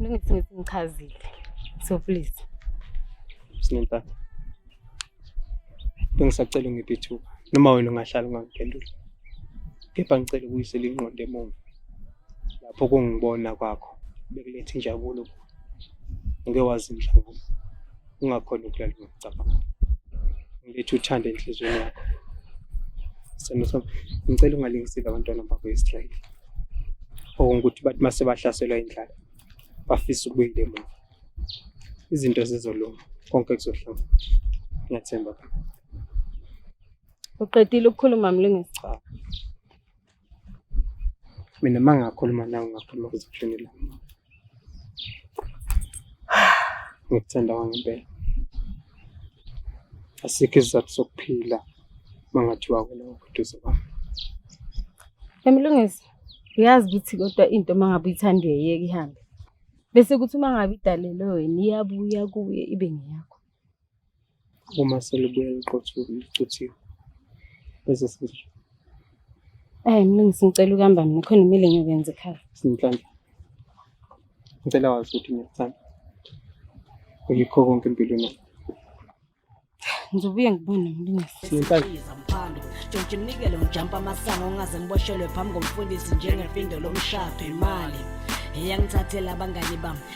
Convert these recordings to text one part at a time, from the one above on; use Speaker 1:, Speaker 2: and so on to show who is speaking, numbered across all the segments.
Speaker 1: Ngithi ngithi ngichazile. So please.
Speaker 2: Sinempatha. Bengisacela ungiphe ithuba noma wena ungahlala ungangiphenduli. Kepha ngicela ukuyisela inqondo emuva. Lapho kungibona kwakho bekuletha injabulo kuwe. ngeke wazi mhlawumbe ungakhona ukulala ngokucabanga ngilethe uthanda enhliziyweni yakho sithando sami ngicela ungalingisile abantwana bakho israyeli okungukuthi bathi uma sebahlaselwa indlala bafisa ukubuyela emuva izinto zizolunga konke kuzohlanga ngiyathemba
Speaker 1: uqedile ukukhuluma mlungisi
Speaker 2: Mina mangakhuluma nawe ngakhuluma kuzoshini la. Ngikuthanda wangempela. Asikho isizathu sokuphila mangathiwa wena ukuduze kwami. Emlungisi,
Speaker 1: uyazi ukuthi kodwa into mangabe uyithanda uyayeka ihambe. Bese kuthi uma ngabe idalelwe wena iyabuya kuye ibe ngeyakho.
Speaker 2: uma selibuye liqothuke licuthiwe bese senze
Speaker 1: Ayi mlungisi ngicela ukuhamba mina khona kumele ngiyokwenza ekhaya. Sinhlamba.
Speaker 2: Ngicela wazi ukuthi ngiyakuthanda. Uyikho konke empilweni. Ngizobuye
Speaker 1: ngibone mlungisi. Sinhlamba.
Speaker 3: Jontshe mnikele ngijampa amasango ungaze ngiboshelwe phambi komfundisi njengefindo lomshado imali eyangithathela abangani bami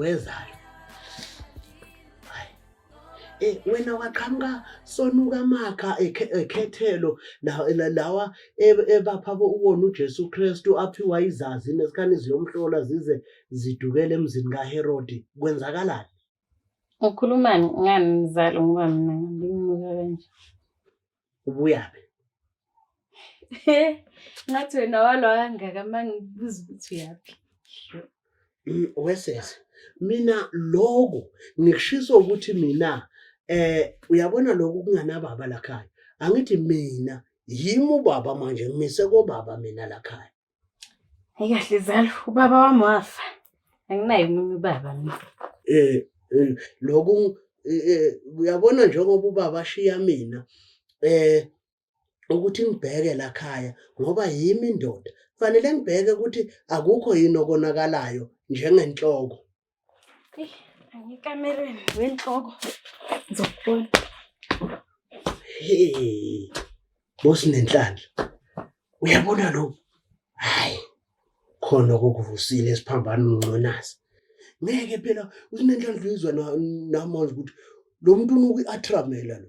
Speaker 4: wezalo eh wena waqhamuka sonuka amakha ekhethelo lawa ebapha uwona uJesu Kristu aphiwa izazi nesikhathi ziyomhlola zize zidukele emzini kaHerodi kwenzakalani
Speaker 1: Ukhulumani ngani mzalo ngoba mina ngimnuka kanje
Speaker 4: ubuyaphi
Speaker 1: ngathi wena walo kangaka uma ngibuza ukuthi uyaphi mm, wesese
Speaker 4: mina loku ngikushiso ukuthi mina eh uyabona lokhu kunganababa lakhaya angithi mina yimi ubaba manje ngimise kobaba mina lakhaya Ayikahle
Speaker 1: zalo, ubaba wami wafa. Anginayo omunye ubaba mina. Eh, eh lokhu
Speaker 4: eh, eh, uyabona njengoba ubaba ashiya mina eh ukuthi ngibheke la khaya ngoba yimi indoda. Kufanele ngibheke ukuthi akukho yini okonakalayo njengenhloko.
Speaker 1: Angikamerweni wenhloko ngizokubona. Hey.
Speaker 4: Bosi nenhlanhla. Uyabona lo? Hayi. Khona kokuvusile esiphambana unconazi. Ngeke phela usinenhlanhla izwa namanje ukuthi lo muntu unuku atramela lo.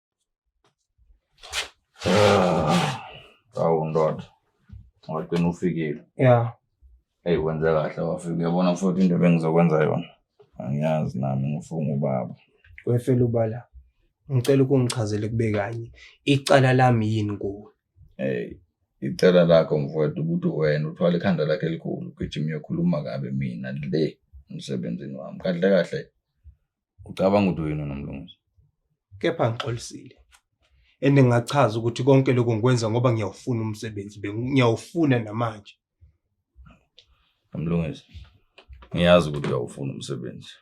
Speaker 5: Ah, awu ndoda wagcina ufikile ya
Speaker 2: eyi wenze
Speaker 5: kahle wafika uyabona futhi into ebengizokwenza yona angiyazi
Speaker 2: nami
Speaker 5: ngifunga ubaba
Speaker 2: wefela
Speaker 5: ubala ngicela
Speaker 2: ukungichazele kube kanye icala lami yini kuwe eyi
Speaker 5: icela lakho mfowethu ukuthi wena uthwala ikhanda lakhe elikhulu ugijima uyokhuluma kabi mina le emsebenzini wami kahle kahle Ucabanga ukuthi uyini unomlungisi? Kepha
Speaker 2: ngixolisile. And ngingachaza ukuthi konke lokho ngikwenza ngoba ngiyawufuna umsebenzi, ngiyawufuna namanje.
Speaker 5: Nomlungisi. Ngiyazi ukuthi uyawufuna umsebenzi.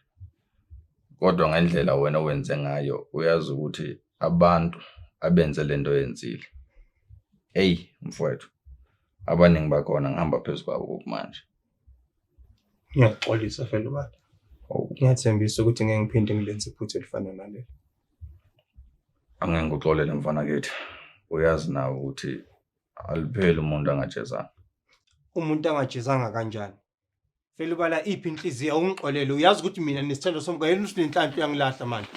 Speaker 5: Kodwa ngendlela wena wenze ngayo uyazi ukuthi abantu abenze lento yenzile. Hey mfowethu. Abaningi bakhona ngihamba phezu kwabo manje. Ngiyaxolisa
Speaker 2: fela ubaba. Oh. Ngiyathembisa ukuthi ngeke ngiphinde ngilenze iphutha elifana naleli.
Speaker 5: Angeke ngikuxolele mfana kithi. Uyazi nawe ukuthi alipheli umuntu angajezanga. Umuntu
Speaker 2: angajezanga kanjani? Fela ubala iphi inhliziyo ungixolele. Uyazi ukuthi mina nesithando somka yena usinenhlanhla uyangilahla manje.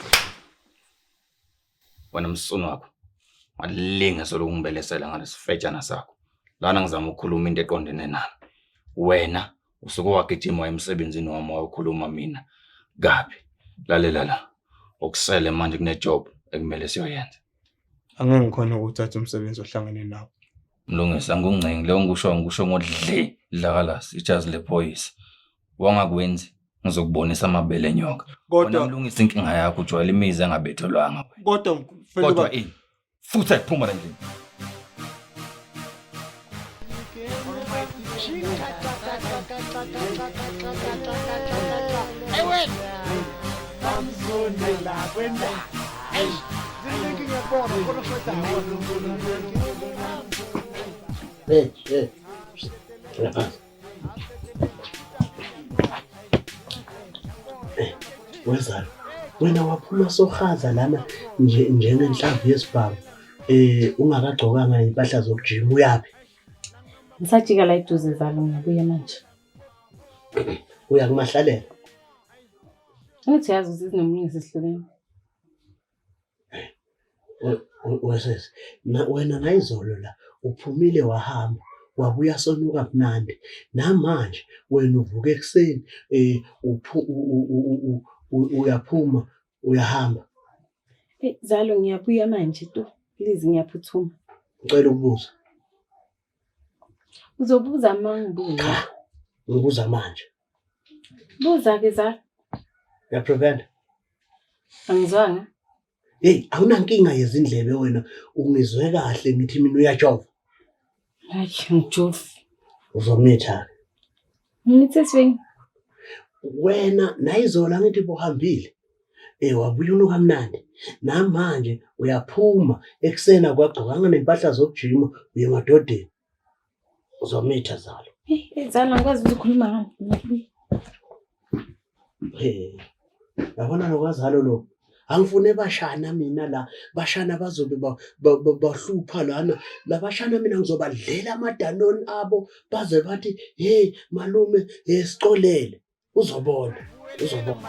Speaker 5: wena msunu wakho walinge solokungibelesela ngalesifetshana sakho lana ngizama ukukhuluma into eqondene nami wena usuke wagijima emsebenzini wami wayokhuluma mina kabi lalela la okusele manje kunejob ekumele siyoyenza angeke
Speaker 2: ngikhona ukuthatha umsebenzi ohlangene nawo mlungisi
Speaker 5: angungcingi leyo ngikusho ngikusho ngodle dlakalasi ijazi lephoyisa wangakwenzi ngizokubonisa amabele nyoka Kodwa- Wena mlungisa inkinga yakho ujwayela imizi engabethelwanga wena. kodwa mfana kodwa uba- ini futhi ayiphuma la ndlini Hey, hey. Lapha.
Speaker 4: wezalo wena waphuma sohaza lana njengenhlamvu yesibhamu eh ungakagcokanga impahla zokujima uyabe ngisajika
Speaker 1: la iduze zalo ngibuye manje
Speaker 4: uya kumahlalela
Speaker 1: ngithi yazi uzizinomlungisi sihlukene
Speaker 4: wesesi wena nayizolo la uphumile wahamba wabuya sonuka mnandi namanje wena uvuka ekuseni um uyaphuma uyahamba
Speaker 1: zalo ngiyabuya manje tu please ngiyaphuthuma ngicela ukubuza Uzobuza mangibuza. Ngibuza
Speaker 4: manje.
Speaker 1: Buza ke za. Ya
Speaker 4: prevent.
Speaker 1: Angizwanga. Hey,
Speaker 4: awunankinga yezindlebe wena. Ungizwe kahle ngithi mina uyajova. Hayi,
Speaker 1: ngijofi. Uzomitha. Ngithethweni.
Speaker 4: Wena nayizolo angithi bohambile. Eh wabuya unuka mnandi. Namanje uyaphuma ekuseni akwagcokanga nempahla zokujima uye emadodeni. Uzomitha zalo. Eh, zalo ngikwazi
Speaker 1: ukukhuluma ngani?
Speaker 4: yabona lokwazalo lo angifune bashana mina la bashana bazobe bahlupha lana labashana mina ngizobadlela amadanoni abo baze bathi hey malume yesicolele uzobona uzobona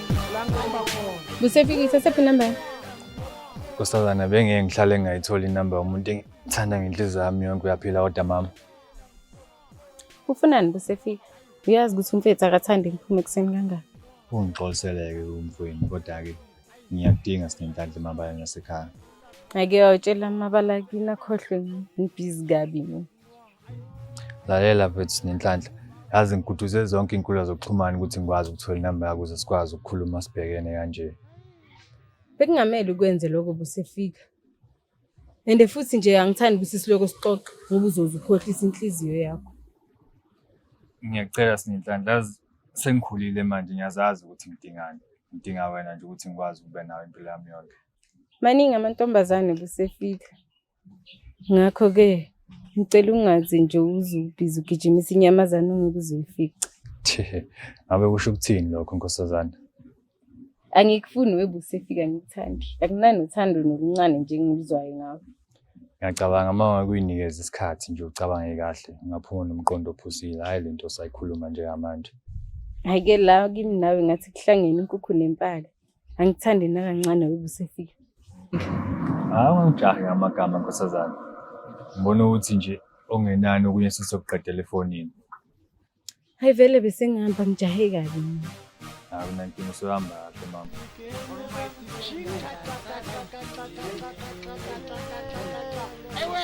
Speaker 1: Kusefika isasephi number?
Speaker 6: Nkosazana bengeke ngihlale ngingayitholi inamba yomuntu engithanda ngenhliziyo yami yonke uyaphila kodwa mama. Ufunani
Speaker 1: busefika? Uyazi ukuthi umfethu akathandi ngiphume ekuseni kangaka. Ungixoliseleke
Speaker 6: umfweni kodwa-ke ngiyakudinga sinenhlanhla emabala nasekhaya. Ake
Speaker 1: wawutshela amabala kini akhohlwe ngibhizi kabi mina.
Speaker 6: lalela mfethu nenhlanhla yazi ngiguduze zonke inkulumo zokuxhumana ukuthi ngikwazi ukuthola inamba yakho ukuze sikwazi ukukhuluma sibhekene kanje
Speaker 1: bekungamele ukwenze lokho busefika and futhi nje angithandi ukuthi siloko sixoxe ngoba uzoze ukhohlisa inhliziyo yakho ngiyacela
Speaker 6: sinenhlanhla sengikhulile manje ngiyazazi ukuthi ngidingani ngidinga wena nje ukuthi ngikwazi ukuba nawe impilo yami yonke maningi
Speaker 1: amantombazane busefika Ngakho-ke ngicela ungazi nje uze ubhizi ugijimisa inyamazane ongeke uze
Speaker 6: uyifice.
Speaker 1: Tjhe,
Speaker 6: ngabe kusho
Speaker 1: ukuthini lokho
Speaker 6: nkosazana?
Speaker 1: Angikufuni webuse fika ngikuthandi. Akunani uthando noluncane nje engiluzwayo ngawe. Ngiyacabanga
Speaker 6: uma ungakuynikeza isikhathi nje ucabange kahle, ungaphuma nomqondo ophusile, hhayi le nto osayikhuluma njengamanje. Hhayi-ke
Speaker 1: la kimi nawe ngathi kuhlangene inkukhu nempala. Angithandi nakancane ukuba usefika. Hayi ungijahe
Speaker 6: ngamagama nkosazana. Ngibona ukuthi nje ongenani okunye sisokuqedela efonini.
Speaker 1: Hayi vele besengihamba ngijahe kabi mina. Hayi unankinga
Speaker 6: usuhamba kahle mama. Ewe!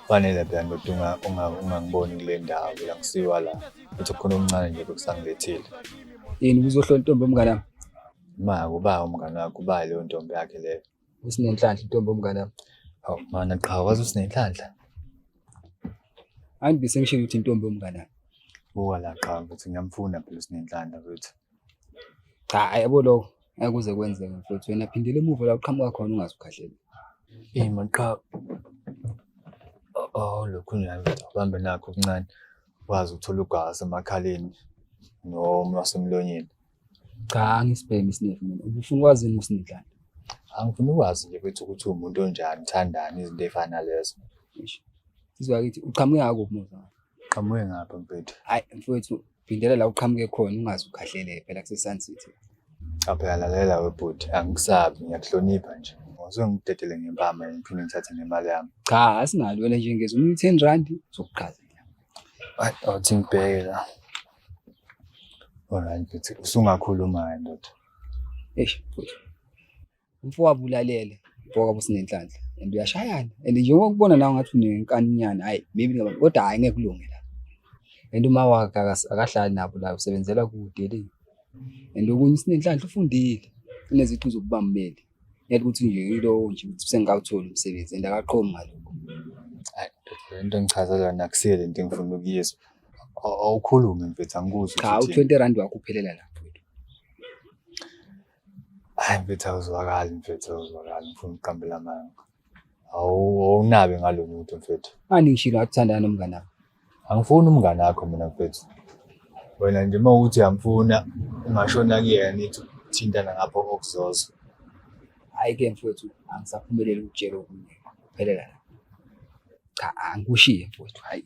Speaker 7: Kufanele phela
Speaker 6: ndoda unga- unga- ungangiboni kule ndawo phela ngisiwa la uthi khona okuncane nje bekusangilethile yini
Speaker 7: uzohlola intombi omngane wami ma
Speaker 6: kuba umngane wakho uba leyo ntombi yakhe leyo usinenhlanhla intombi
Speaker 7: omngane wami awu mana
Speaker 6: qha wazi usinenhlanhla
Speaker 7: angibe sengishilo ukuthi intombi omngane wami buka la
Speaker 6: qha ukuthi ngiyamfuna phela usinenhlanhla futhi cha
Speaker 7: ayebo lokho ngeke kuze kwenzeke mfowethu wena phindela emuva la uqhamuka khona ungaze ukhahlele Eyi man cha
Speaker 6: oh lokhu nami bambe nakho okuncane wazi uthola ugazi emakhaleni noma wasemlonyeni cha
Speaker 7: angisibhemi isinefu mina ubufuna ukwazi yini usinidlana angifuni
Speaker 6: ukwazi nje kwethu ukuthi umuntu onjani uthandani izinto ey'fana nalezo
Speaker 7: izwa kithi uqhamuke ngakuphi muza qhamuke ngapha
Speaker 6: mfethu hayi mfowethu
Speaker 7: Phindela la uqhamuke khona ungaze ukhahlele phela kuseSun City. Cha phela
Speaker 6: lalela webhuti angikusabi ngiyakuhlonipha nje. Ngizwe ngikudedele ngempama ngiphinde ngithathe nemali yami. Cha asinalo wena
Speaker 7: nje ngezwe umuntu 10 rand sokuqhaza. Ay awuthi
Speaker 6: ngibheke la. Alright bhuti usungakhuluma ndoda. Eish
Speaker 7: bhuti. Umfowabo ulalele, umfowabo sinenhlanhla and uyashayana and njengoba kubona nawe ngathi unenkaninyana hayi maybe ngaba- kodwa hayi ngeke kulunge la. And uma wakhe akas- akahlali nabo la usebenzela kude le. And okunye usinenhlanhla ufundile uneziqu zokuba mmeli. Yathi ukuthi nje yilowo nje ukuthi sengikawutholi umsebenzi and akaqomi ngalokho. Hayi,
Speaker 6: ndoda, lento engichazela yona akusiyo lento engifuna ukuyizwa. Aw- Awukhulume mfethu angikuzwa Cha ukuthi uthini. u20 rand wakho
Speaker 7: uphelela la.
Speaker 6: Hayi mfethu awuzwakali mfethu awuzwakali ngifuna ukuqambela amanga. Awu awunabi ngalo muntu mfethu. Ani ngishilo akuthandana
Speaker 7: nomngane wakho. Angifuni umngane
Speaker 6: wakho mina mfethu. Wena nje uma uthi uyamfuna ungashona kuyena nithi thintana ngapho okuzozwa. Hayi
Speaker 7: ke mfethu angisaphumeleli ukutshela okunye. Phelela la. Cha angikushiye mfethu hayi.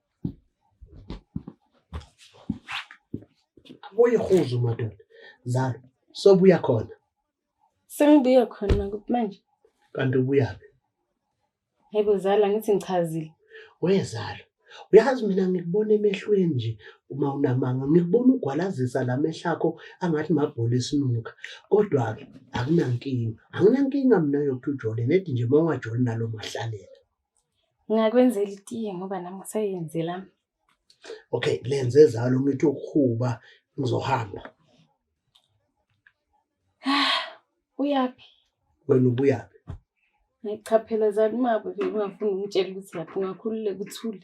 Speaker 4: Uyihuzu madoda. Zalo, sobuya khona. Sengibuya
Speaker 1: khona kuphi manje? Kanti ubuyaphi? Yebo zala ngithi ngichazile. Wezalo,
Speaker 4: uyazi mina ngikubona emehlweni nje uma unamanga ngikubona ugwalazisa la mehla akho angathi mabhola esinuka. Kodwa-ke akunankinga. Anginankinga mina yokuthi ujole nedi nje uma ungajoli nalo mahlalela.
Speaker 1: Ngakwenzela itiye ngoba nami ngisayenzela.
Speaker 4: Okay, lenze zalo umithi ukuhuba ngizohamba.
Speaker 1: Uyaphi? Wena
Speaker 4: ubuyaphi? Ngichaphela
Speaker 1: zani mabo ungafuni ungitshela ukuthi lapho ungakhululeka uthule.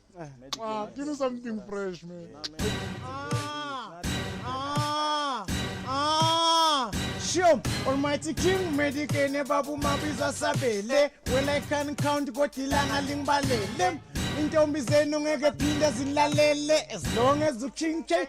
Speaker 8: Ah, give me
Speaker 9: something fresh, man. Ah, ah,
Speaker 8: ah. Shem, Almighty King, Medicaid, Babu Mabiza Sabele. When I can count, go Tilanga Limbalele. intombi zenu ngeke phinde zilalele as long as utshintshe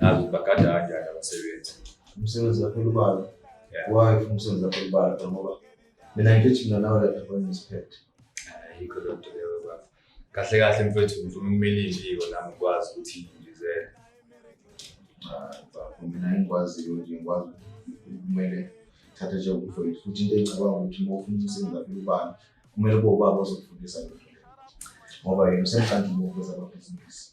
Speaker 6: Nazi bagada kanjani abasebenzi. Umsebenzi wakho
Speaker 10: ulubalo. Why ufuna umsebenzi wakho ulubalo ngoba mina ngithi mina nawe lapha kwenye isiphethe. Ayikho lo
Speaker 6: nto leyo baba. Kahle kahle mfethu ngifuna ukumela imbiko nami ukwazi ukuthi ngizele. Ah, baba
Speaker 10: mina ngikwaziyo nje ngikwazi kumele thatha njengokuhlonipha futhi into engicabanga ukuthi uma ufuna umsebenzi wakho ulubalo kumele kube ubaba ozokufundisa lo ngoba yena usemhlanje ukuveza amabhizinisi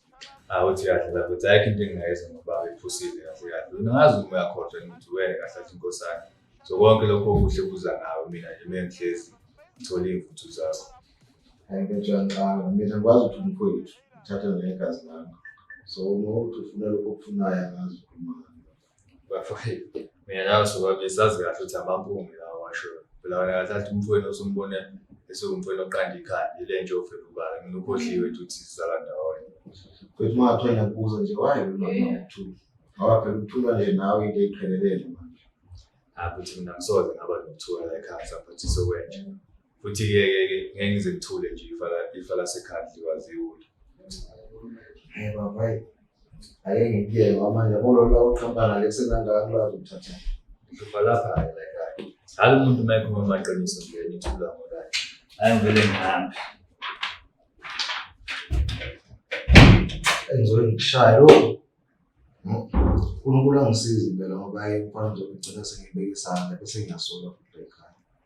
Speaker 10: awuthi kahle
Speaker 6: lapho ukuthi ayikho into engingayenza ngoba iphusile kahle kahle wena ngazi uma uyakhohlwa ngithi wena kahle athi inkosana so konke lokho okuhle kuza ngawe mina nje mina ngihlezi ngithole iy'mvuthu zakho ayintotshanqanga
Speaker 10: mina ngikwazi ukuthi umfowethu uthatha negazi lami so uma uthi ufuna lokho okufunayo angazi ukhuluma bafowethu
Speaker 6: mina nawe sobabili sazi kahle ukuthi amampunge lawa washoyo phela wena kahle athi umfowenu osumbone esiwumfowenu oqanda ikhanda ile nje ofela ubala mina ukhohliwe nje ukuthi sizala ndawonye futhi uma ngathwe
Speaker 10: ngiyakubuza nje waye unokuthula ngoba phela ukuthula nje nawe into eyiqhelelele manje abuthi mina
Speaker 6: ngisoze ngaba nokuthula la ekhaya saphathisa okwenje futhi ke ke ke ngeke ngize ngithule nje ifa la ifa lasekhadli waziwula hey baba
Speaker 10: ake ngiye mama yabona lo uqhampana lesenanga kulwazi ukuthatha ngihlupa lapha
Speaker 6: hayi la ekhaya hayi umuntu uma ekhuluma amaqiniso nje ngithula ngoba hayi ngivele ngihambe
Speaker 10: engizobe ngikushaya lo uNkulunkulu angisize impela ngoba yena mfana nje ngigcina sengibeke isandla bese ngiyasola futhi ekhaya